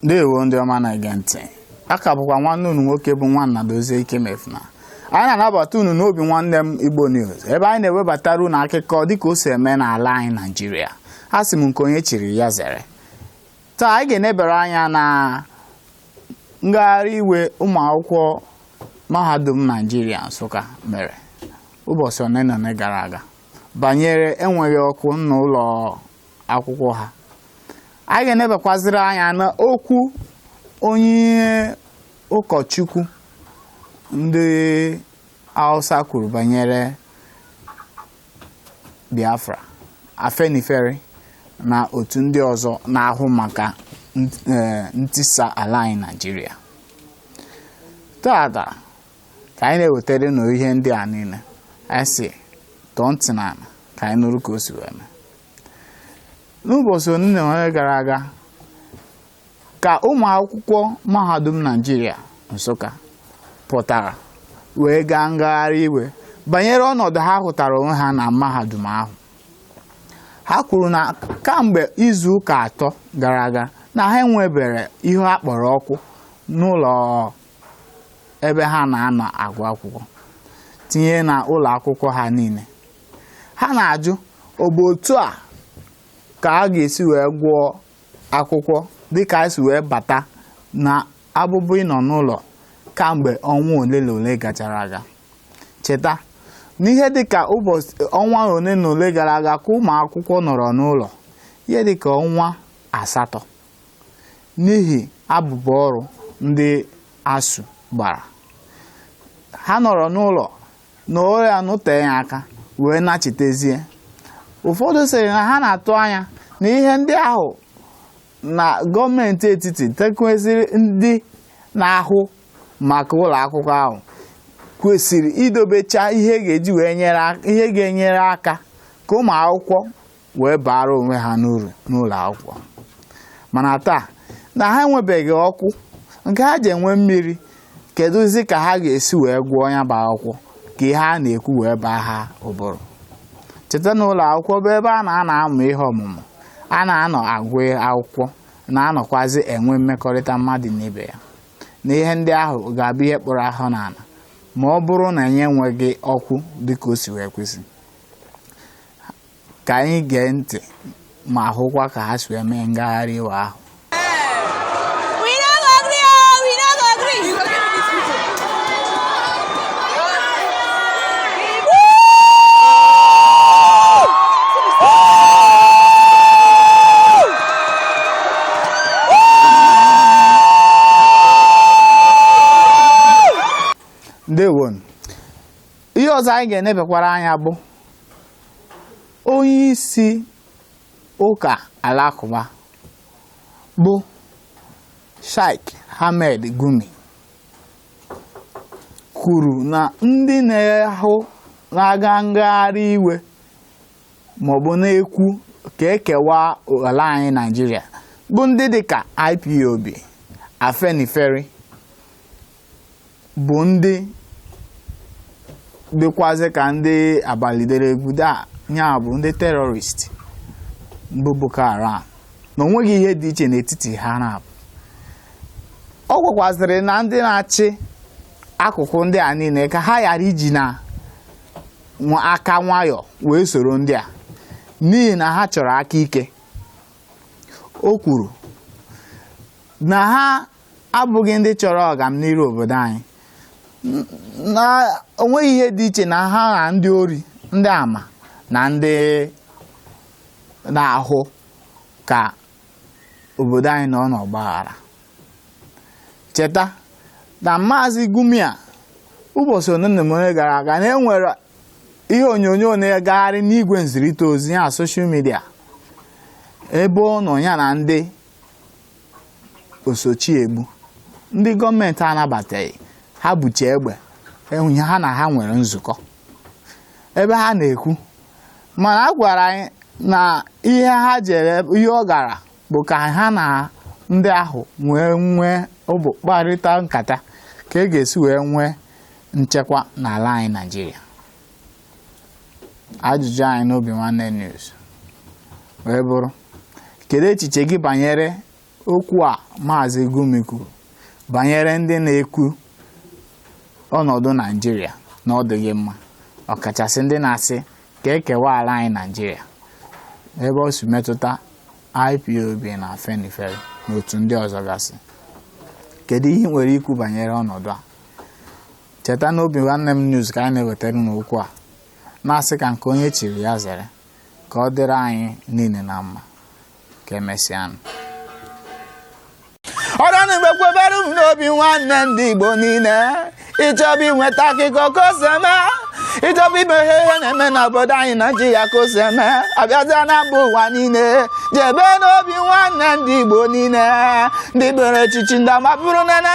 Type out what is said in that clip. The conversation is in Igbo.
ndewo ndị ọma na-ege ntị a ka bụkwa nwanne unu nwoke bụ nwanna dozie ikemefuna anyị na-anabata unu n'obinwannem igbo news ebe anyị na-ewebatara unu akụkọ dịka o si eme n'ala anyị naijiria a sị m nke onye chiri ya zere taa anyị ga-enebere anya na ngagharị iwe ụmụ akwụkwọ mahadum naijiria nsụka mere ụbọchị ole na ole gara aga banyere enweghị ọkụ n'ụlọ akwụkwọ ha anyị ga-enebekwaziri anya na okwu onye ụkọchukwu ndị Hausa kwuru banyere Biafra Afenifere na otu ndị ọzọ na-ahụ maka e, ntisa ala anyị Naịjirịa taata ka anyị na-ewetara unu ihe ndị a niile anyị sị tọọ ntị n'ala ka anyị nụrụ ka o si wee mee n'ụbọchị ole na ole gara aga ka ụmụ akwụkwọ mahadum naijiria nsụka pụtara wee gaa ngagharị iwe banyere ọnọdụ ha hụtara onwe ha na mahadum ahụ ha kwuru na kamgbe izu ụka atọ gara aga na ha enwebere ihe a kpọrọ ọkụ n'ụlọ ebe ha na-anọ agụ akwụkwọ tinye na ụlọ akwụkwọ ha niile ha na-ajụ ọ bụ otu a ka a ga-esi wee gụọ akwụkwọ dịka a si wee bata na abụbụ ịnọ n'ụlọ kamgbe ọnwa ole na ole gachara aga cheta n'ihe dịka ụbọchị ọnwa ole na ole gara aga ka ụmụ akwụkwọ nọrọ n'ụlọ ihe dịka ọnwa asatọ n'ihi abụbụ ọrụ ndị ASUU gbara. Ha nọrọ n'ụlọ na ore anụteghị aka wee nachitezie. Ụfọdụ sịrị na ha na-atụ anya na ihe ndị ahụ na gọọmenti etiti tinyekwaziri ndị na-ahụ maka ụlọ akwụkwọ ahụ kwesịrị idobecha ihe ga-eji wee nyere ihe ga-enyere aka ka ụmụ akwụkwọ wee baara onwe ha n'uru n'ụlọ akwụkwọ mana taa na ha enwebeghị ọkụ nke ha ji enwe mmiri kedụzi ka ha ga-esi wee gụọ ya bụ akwụkwọ ka ihe a na-ekwu wee baa ha ụbụrụ cheta na ụlọ akwụkwọ bụ ebe a na-anọ amụ ihe ọmụmụ a na-anọ agụ akwụkwọ na-anọkwazi enwe mmekọrịta mmadụ na ibe ya na ihe ndị ahụ ga-abụ ihe kpụrụ afọ n'ala ma ọ bụrụ na anyị enweghị ọkụ dịka o si wee kwesị ka anyị gee ntị ma hụkwa ka ha si wee mee ngagharị iwe ahụ ndewo ihe ọzọ anyị ga-enebekwara anya bụ onye isi ụka alakụba bụ Sheikh Ahmed Gumi kwuru na ndị na-ahụ na-aga ngagharị iwe maọbụ na-ekwu ka e kewaa ala anyị Naịjirịa bụ ndị dịka IPOB Afenifere bụ ndị dịkwazị ka ndị abalị dere egwu daa ya bụ ndị terrorist bụ Boko Haram na o nweghị ihe dị iche n'etiti ha na abụọ ọ gwakwazịrị na ndị na-achị akụkụ ndị a niile ka ha ghara iji na aka nwayọ wee soro ndị a n'ihi na ha chọrọ aka ike o kwuru na ha abụghị ndị chọrọ ọganiru obodo anyị na o nweghị ihe dị iche na ha na ndị ori ndị ama na ndị na-ahụ ka obodo anyị nọ n'ọgbaghara cheta na maazị Gumi a ụbọchị ole na ole gara aga na e nwere ihe onyonyo na-egagharị n'igwe nzirịta ozi ya soshal midia ebe ọ nọ ya na ndị oso chi egbu ndị gọọmenti anabataghị ha buche egbe ehe ha na ha nwere nzukọ ebe ha na-ekwu mana a gwara anyị na ihe ha jere ihe ọ gara bụ ka ha na ndị ahụ nwee nwee ụbụ kparịta nkata ka e ga-esi wee nwee nchekwa n'ala anyị Naịjirịa ajụjụ anyị n'Obinwanne News wee bụrụ kedu echiche gị banyere okwu a maazị Gumi kwuru banyere ndị na-ekwu ọnọdụ Naijiria na ọ dịghị mma ọkachasị ndị na-asị ka e kewaa ala anyị Naijiria ebe ọ si metụta IPOB na Afenifere na otu ndị ọzọ gasị kedu ihe i nwere ikwu banyere ọnọdụ a cheta na obinwannem news ka anyị na-ewetara unu okwu a na-asị ka nke onye chiri ya zere ka ọ dịrị anyị niile na mma ka emesịanụ ọrụ na mgbe kwebere m n'obi nwanne ndị igbo niile ị chọba inweta akụkọ ka o si eme ị chọba ịma ihe ihe na-eme n'obodo anyị naijiria ka o si eme a bịazịa na mba ụwa niile jebe n'obi nwanne ndị igbo niile ndị bere echichi ndị amabụrụ nene